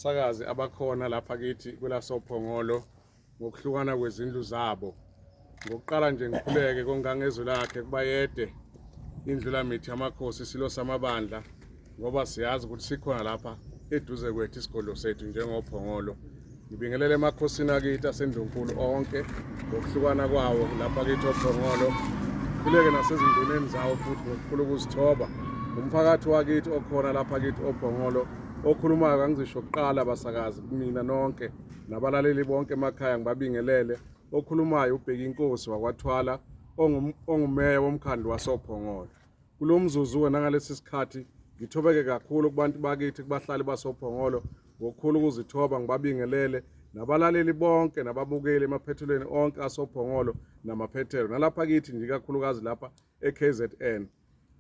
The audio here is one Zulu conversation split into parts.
sakazi abakhona lapha kithi kwelasophongolo ngokuhlukana kwezindlu zabo ngokuqala nje ngikhuleke kongangezwe lakhe kubayede indlulamithi yamakhosi isilo samabandla ngoba siyazi ukuthi sikhona lapha eduze kwethu isigodlo sethu njengophongolo Ngibingelele emakhosini akithi aseNdlunkulu onke ngokuhlukana kwawo lapha kithi oBhongolo khuleke nasezinduneni zawo futhi ngokukhulu ukuzithoba umphakathi wakithi okhona lapha kithi oBhongolo okhulumayo kangizisho kuqala basakazi kumina nonke nabalaleli bonke emakhaya ngibabingelele okhulumayo ubheki inkosi wakwathwala ongumeya womkhandlu wasoBhongolo Kulo mzuzu wena ngalesi sikhathi ngithobeke kakhulu kubantu bakithi kubahlali basophongolo ngokukhulu ukuzithoba ngibabingelele nabalaleli bonke nababukeli emaphethelweni onke asophongolo namaphethelo nalapha kithi nje kakhulukazi lapha eKZN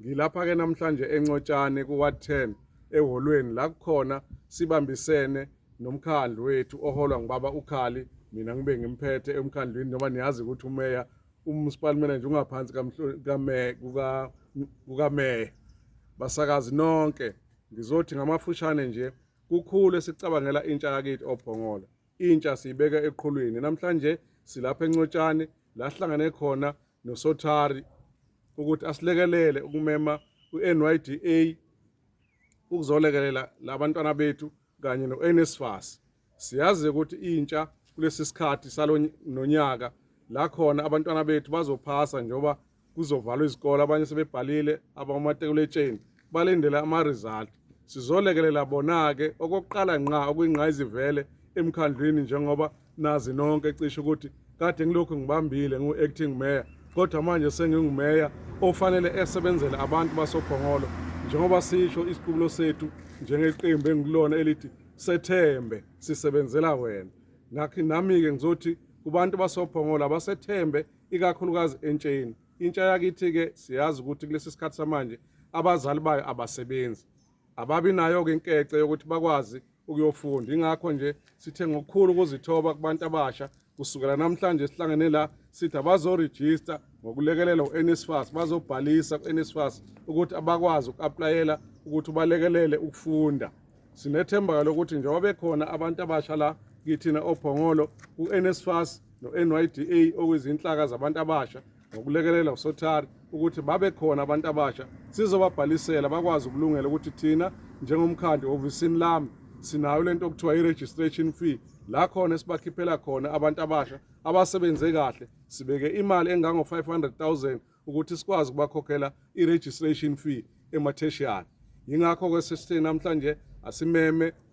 ngilapha ke namhlanje encotshane kuward 10 eholweni la kukhona sibambisene nomkhandlu wethu oholwa ngibaba ukhali mina ngibe ngimphethe emkhandlwini noma niyazi ukuthi umeya uMunicipal Manager ungaphansi kukameya basakazi nonke ngizothi ngamafushane nje kukhulu esicabangela intsha yakithi obhongola intsha siyibeka eqhulwini namhlanje silapha encotshane la sihlangane khona nosothari ukuthi asilekelele ukumema u-NYDA ukuzolekelela labantwana bethu kanye no-NSFAS Siyazi ukuthi intsha kulesi sikhathi salo nonyaka la khona abantwana bethu bazophasa njengoba kuzovalwa izikole abanye sebebhalile abamatekuletshen balindele ama-result sizolekelela bona-ke okokuqala nqa okuyingqayizivele emkhandlwini njengoba nazi nonke cishe ukuthi kade ngilokhu ngibambile ngu-acting mayor kodwa manje sengingumeya ofanele esebenzele abantu basophongolo njengoba sisho isiqubulo sethu njengeqembu engilona elithi sethembe sisebenzela wena ngakho nami-ke ngizothi kubantu basophongola basethembe ikakhulukazi entsheni intsha yakithi-ke siyazi ukuthi kulesi sikhathi samanje abazali bayo abasebenzi ababi nayo-ke inkece yokuthi bakwazi ukuyofunda ingakho nje sithe ngokukhulu ukuzithoba kubantu abasha kusukela namhlanje sihlangene la sithi abazorejista ngokulekelela u-NSFAS bazobhalisa ku-NSFAS ukuthi abakwazi uku-aplayela ukuthi ubalekelele ukufunda sinethemba-ke lokuthi njengoba bekhona abantu abasha la kithina ophongolo u-NSFAS no-NYDA okuyizinhlaka zabantu abasha ngokulekelela uSothari ukuthi babe khona abantu abasha sizobabhalisela bakwazi ukulungela ukuthi thina njengomkhandlu ehhovisini lami sinayo lento okuthiwa i-registration fee la khona esibakhiphela khona abantu abasha abasebenze kahle sibeke imali engango-500000 ukuthi sikwazi ukubakhokhela i-registration fee ematheshiyali yingakho-ke sesithe namhlanje asimeme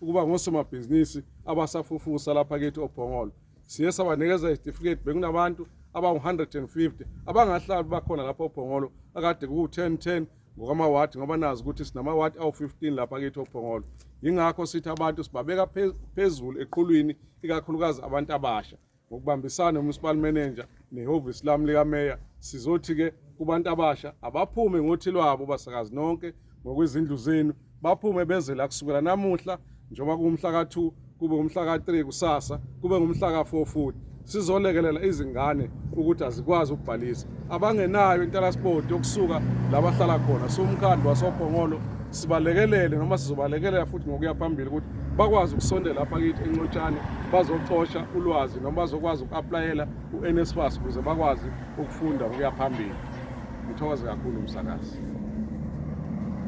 ukuba ngosomabhizinisi abasafufusa lapha kithi obhongolo siye sabanikeza izitifiketi bekunabantu abangu-150 abangahlali bakhona lapha obhongolo akade kuwu-10 10 ngokwamawadi ngoba nazi ukuthi sinamawadi awu-15 lapha kithi obhongolo yingakho sithi abantu sibabeka phezulu eqhulwini ikakhulukazi abantu abasha Ngokubambisana nomunicipal manager nehhovisi lami likameya sizothi-ke kubantu abasha abaphume ngothi lwabo basakazi nonke ngokwezindlu zenu baphume beze la kusukela namuhla njengoba kuwumhla ka-2 kube umhla ka-3 kusasa kube ngumhla ka-4 futhi sizolekelela izingane ukuthi azikwazi ukubhalisa abangenayo intalasport yokusuka la bahlala khona siwumkhandlu wasophongolo sibalekelele noma sizobalekelela futhi ngokuya phambili ukuthi bakwazi ukusondela apha kithi encotshane bazocosha ulwazi noma bazokwazi uku-aplayela u-nsfas ukuze bakwazi ukufunda ukuya phambili ngithokoze kakhulu umsakazi